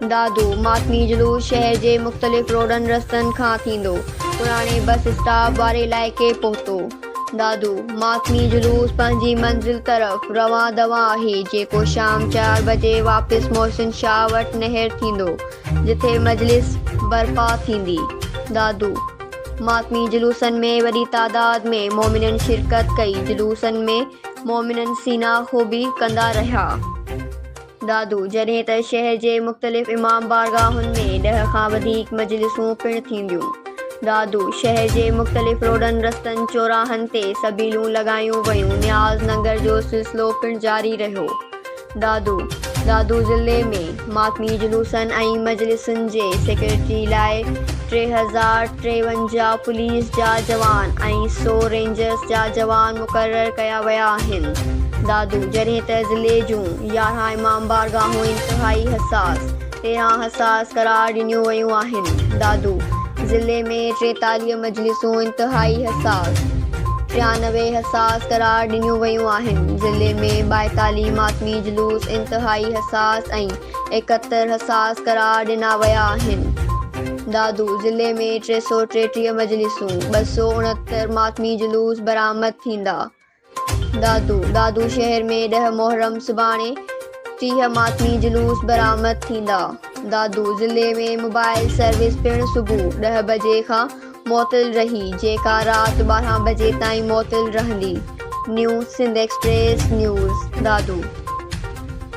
دادو ماتمي جلوس شهر جي مختلف روڊن رستن کان ٿيندو پراڻي بس اسٽاپ واري علائقي پهتو. دادو ماتمي جلوس پنهنجي منزل طرف روان دوان آهي جيڪو شام چار بجي واپس محسن شاهه وٽ نهر ٿيندو جتي مجلس برپا ٿيندي. دادو ماتمي جلوسن ۾ وڏي تعداد ۾ مومنن شرڪت ڪئي جلوسن ۾ مومنن سينا خوبي ڪندا رهيا. دادو، جڏهن ته شهر جي مختلف امام بارگاهن ۾ ڏهه کان وڌيڪ مجلسون پڻ ٿينديون. دادو، شهر جي مختلف روڊن، رستن، چوراهن تي سبيلون لڳايون ويون، نياز ننگر جو سلسلو پڻ جاري رهيو. دادو، دادو ضلعي ۾ ماتمي جلوسن ۽ مجلسن جي سيڪيورٽي لاء ٽي هزار ٽيونجاهه پوليس جا جوان ۽ سؤ رينجرز جا جوان مقرر ڪيا ويا آهن. دادو، جڏهن ته ضلعي جون يارهن امام بارگاهون انتهائي حساس، تيرهن حساس قرار ڏنيون ويون آهن، دادو ضلعي ۾ ٽيتاليهه مجلسون انتهائي حساس، ٽيانوي حساس قرار ڏنيون ويون آهن، ضلعي ۾ ٻائيتاليهه ماتمي جلوس انتهائي حساس ۽ ايڪهتر حساس قرار ڏنا ويا آهن، دادو ضلعي ۾ ٽي سؤ ٽيٽيهه مجلسون، ٻه سؤ اڻهتر ماتمي جلوس برآمد ٿيندا. دادو دادو شهر ۾ ڏهه محرم سڀاڻي ٽيهه ماتمي جلوس برآمد ٿيندا دادو ضلعي ۾ موبائل سروس پڻ صبح ڏهه بجي کان معطل رهي جيڪا رات ٻارهن بجي تائين معطل رهندي new Sindh express news Dadu.